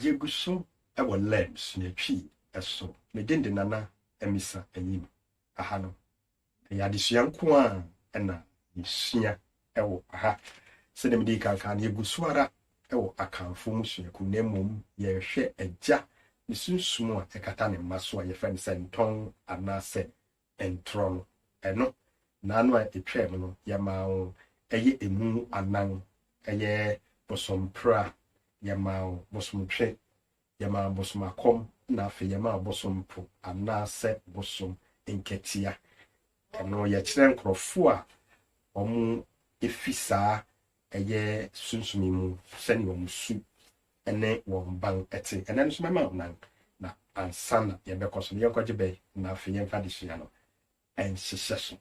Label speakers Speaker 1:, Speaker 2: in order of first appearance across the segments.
Speaker 1: Yegu so wɔ lɛm sua Twi so. Me din de Nana Amisa Anyim. Aha no, ɛyɛ adesua nko ara na yesua wɔ ha. Sɛdeɛ mede kan kaa no, yegu so ara wɔ Akanfoɔ mmusuakuo na mmom yɛrehwɛ Agya ne sunsum a ɛkata ne mma so a yɛfrɛ no sɛntɔn anaasɛ ntorɔ no, ɛno, nna no a ɛtwaam no, Yɛmaa wo, ɛyɛ emu anan, ɛyɛ bosompra, Yɛmaa wo, bosomtwe, Yɛmaa bosomakɔm, ɛna afei Yɛmaa wo bosompo, anaasɛ bosom nkatia. Ɛno, Yɛkyerɛ nkorɔfoɔ a wɔfi saa Ɛyɛ sunsumi mu sɛnea wɔn su ne wɔn ban te. Ɛnnɛ no nso mɛma wo nan, na ansa na yɛbɛkɔ so no, yɛnkɔgye bɛ, na afei yɛmfa adesua no nhyehyɛ so.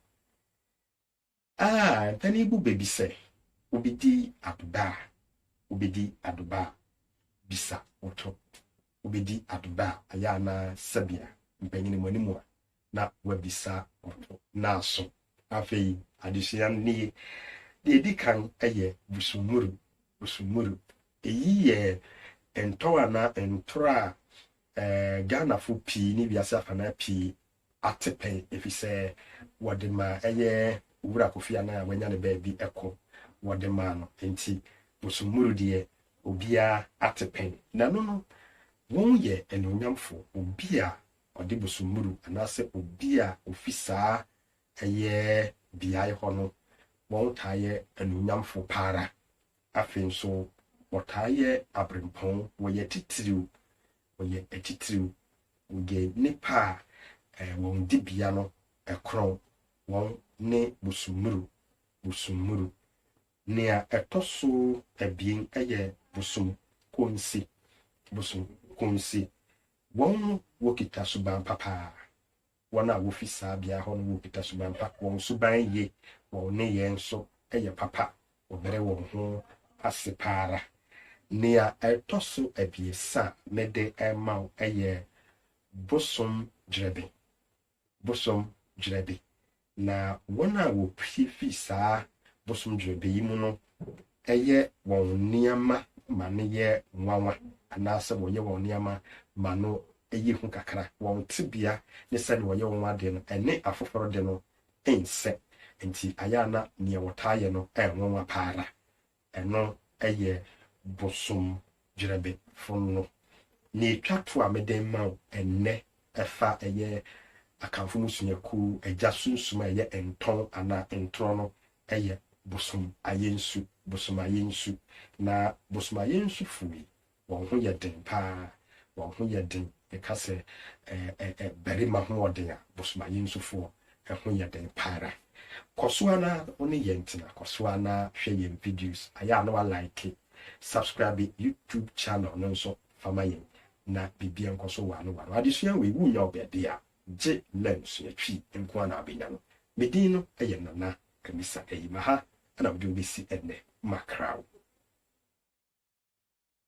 Speaker 1: A Mpanin bu bɛ bi sɛ, Wobedi adoba a, wobedi adoba a, bisa wo to. Wobedi adoba a, ɛyɛ anaa? Sɛbea, mpanin mo anim a, na wɔabisa wɔn ho na aso. Afei adesua no nie, Deɛ ɛdi kan yɛ Busumuru, Busumuru. Ɛyi yɛ ntɔw anaa ntorɔ a eh, Ghanafo pii ne wiase afanaa pii ate pɛn efisɛ wɔde ma ɛyɛ Owura Kofi Annan a wanya ne baabi kɔ wɔde maa no. Enti Busumuru deɛ obiara ate pɛn. Nanu no, wɔn yɛ anuonyamfo, obi a ɔde bosommuru anaasɛ obi a ofi saa ɛyɛ beae hɔ no, wɔtaa yɛ anuonyamfo pa ara. Afei nso, wɔtaa yɛ abirɛmpɔn, wɔyɛ atitiriw, wɔyɛ atitiriw, wɔyɛ nnipa a wɔn dibea no korɔn, wɔne bosommuru, bosommuru. Nea ɛtɔ so abien yɛ bosom konse, bosom konse. Wɔn mu wɔkita suban pa paa. Wɔn a wɔfi saa bea hɔ no wɔkita suban pa, wɔn suban ye, wɔn nneyɛe nso yɛ papa, wɔbrɛ wɔn ho ase pa ara. Nea ɛtɔ so abiɛsa a mede rema wo yɛ bosom dwerɛbee. bosom dwerɛbe, na wɔn a wɔpue fi saa bosom dwerɛbe yi mu no yɛ wɔn nneɛma ma no yɛ nwanwa anaasɛ wɔyɛ wɔn nneɛma ma no yɛ hu kakra. Wɔn tebea ne sɛdeɛ wɔyɛ wɔn adeɛ no, ɛne afoforɔ de no nsɛ, enti ayɛ a na deɛ wɔtaa yɛ no nwanwa pa ara. Ɛno yɛ bosom gyerɛbe fonno. Nea etwa to a mede rema wo ɛnnɛ fa ɛyɛ Akanfo mmusuakuw agya sunsum a ɛyɛ ntɔn anaa ntorɔ no yɛ bosom ayɛ nsu, bosom ayɛ nsu. Na bosom ayɛ nsu fo yi, Wɔn ho yɛ den paa. Wɔn ho yɛ den. Meka sɛ ɛɛ barima ho ɔden a, Bosomayinsufoɔ ho yɛ den pa ara. Kɔ so ara wo ne yɛn tena. Kɔ so ara na hwɛ yɛn videos. Ayɛ a na wa like, subscribe YouTube channel no nso fa ma yɛn na biribiara nkɔ so ware ware. Adesua wei, wonnya wɔ baabi a, gye learn sua twi nko ara na wabɛnya no. Me din no yɛ Nana Amisa Ayima. Ha na mede wo bɛsi ɛnnɛ. Makrao.